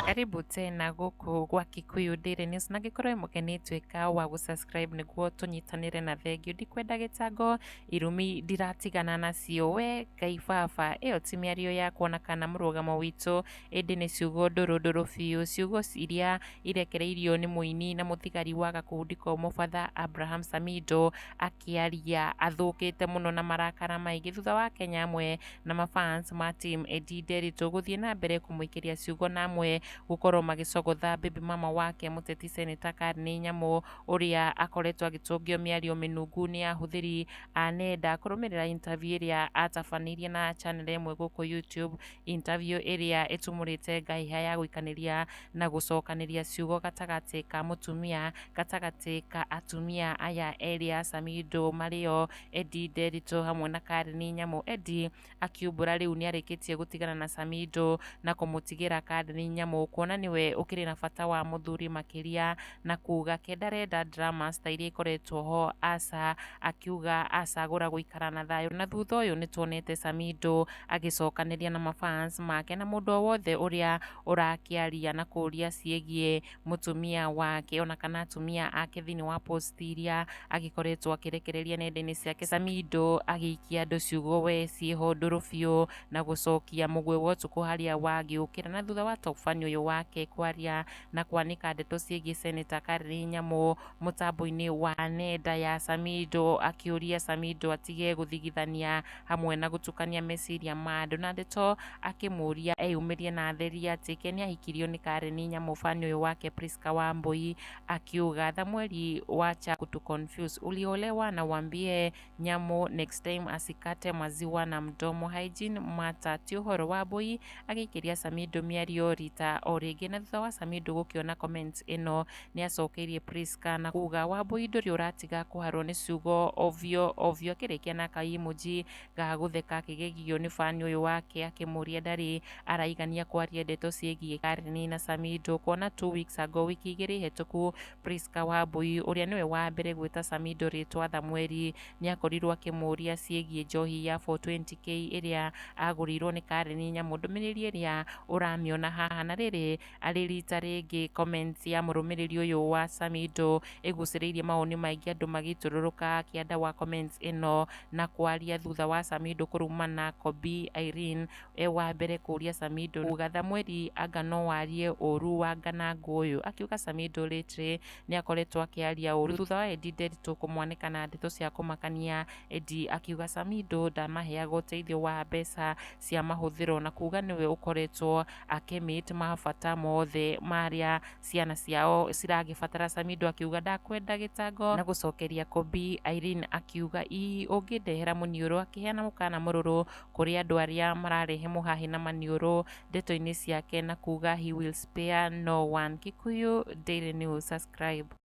karibu tena gũkũ gwa Kikuyu Daily News na ngĩkorwo ĩmũkeni tuĩka wa gũsubscribe nĩguo tũnyitanĩre na thengiũ ndikwenda gĩtango irumi ndiratigana nacio we Ngai baba ĩyo ti mĩario yakwa na kana mũrũgamo witũ ĩndĩ nĩ ciugo ndũrũ ndũrũ biũ, ciugo iria irekereirio nĩ mũini na mũthigari wa gakundi ko mũbatha Abraham Samido akĩaria athũkĩte mũno na marakara maingĩ thutha wa Kenya amwe na mafans ma team Eddie Nderitu gũthiĩ na mbere kũmũikĩria ciugo na amwe gũkorwo magĩcogotha baby mama wake mũteti seneta Karnĩ Nyamũ ũrĩa akoretwo agĩtũngio mĩario mĩnungu nĩ ahũthĩri a nenda kũrũmĩrĩra interview ĩrĩa atabanĩirie na channel ĩmwe gũkũ YouTube Interview ĩrĩa ĩtumũrĩte ngahĩha ya gũikanĩria na gũcokanĩria ciugo gatagatĩ ka mũtumia gatagatĩ ka atumia aya erĩ a Samido marĩo Eddie Nderitũ hamwe na Karen Nyamũ. Eddie akiumbũra rĩu nĩarĩkĩtie gũtigana na Samido na kũmũtigĩra Karen Nyamũ kuona nĩwe ũkĩrĩ na bata wa mũthuri makĩria na kuga ke ndarenda dramas ta iria ikoretwo ho aca akiuga acagũra gũikara na thayũ na thutha ũyũ nĩ tuonete Samido agĩcokanĩria na mafans make na mũndũ o wothe ũrĩa ũrakĩaria na kũria ciĩgiĩ mũtumia wake ona kana atumia ake thĩinĩ wa post iria agĩkoretwo akĩrekereria nenda-inĩ ciake Samido agĩikia andũ ciugo we ciĩho ndũrũ biũ na gũcokia mũgwĩ wa ũtukũ harĩa wagĩũkĩra na thutha wa top fan ũyũ wake kwaria na kwanĩka ndeto ciĩgiĩ Seneta Karĩrĩ Nyamũ mũtambo-inĩ wa nenda ya Samido akĩũria Samido atige gũthigithania hamwe na gũtukania meciria ma andũ na ndeto akĩmũria eyumĩrie na atherie atĩ ke nĩahikirio nĩ Karĩrĩ Nyamũ fan ũyũ wake Prisca Wambũi akiuga tha mweri wacha kutu confuse uliolewa na wambie nyamũ next time acikate maziwa na mdomo hygiene mata ti ũhoro wa mbũi agĩikĩria Samido mĩario rita o rĩngĩ na thutha wa Samido gũkĩona comment ĩno nĩ acokeirie Prisca na kuga wa mbũi ndũrĩ ũratiga kũharwo nĩ ciugo ovyo ovyo akĩrĩkia na ka emoji ga gũtheka akĩgegio nĩ fani ũyũ wake akĩmũria ndarĩ araigania kwaria ndeto ciĩgiĩ Karen na Samido kuona two weeks ago wiki igĩrĩ hetũku Prisca Wambui, ũrĩa nĩwe wa mbere gwĩta Samido rĩtwa Thamweri, nĩ akorirwo akĩmũũria ciĩgiĩ njohi ya 420k ĩrĩa agũrĩirwo nĩ Karen Nyamu. Ndũmĩrĩri ĩrĩa ũramĩona haha, na rĩrĩ arĩ rita rĩngĩ comments ya mũrũmĩrĩri ũyũ wa Samido ĩgucĩrĩirie mawoni maingĩ andũ magĩtũrũrũka kĩanda wa comments ĩno na kwaria thutha wa Samido kũrumana Kobi Irene e wa mbere kũũria Samido kuuga Thamweri anga no warie ũũru wa Nganangũũyũ, akiuga Samido lately nĩ akoretwo akĩaria ũũru thutha wa Eddie Nderitu kũmwanĩka na ndeto cia kũmakania, Eddie akiuga Samido ndamaheaga ũteithio wa mbeca cia mahũthĩro na kuuga nĩwe ũkoretwo akĩ meet mabata moothe marĩa ciana ciao ciragĩbatara, Samido akiuga ndakwenda gĩtango na gũcokeria Kobi, Irene akiuga ii ũngĩndehera mũniũrũ, akĩheana mũkaana mũrũrũ kũrĩ andũ arĩa mararehe mũhahe na maniũrũ ndeto-inĩ ciake na kuuga he will spare no one. Kikuyu Daily News, subscribe.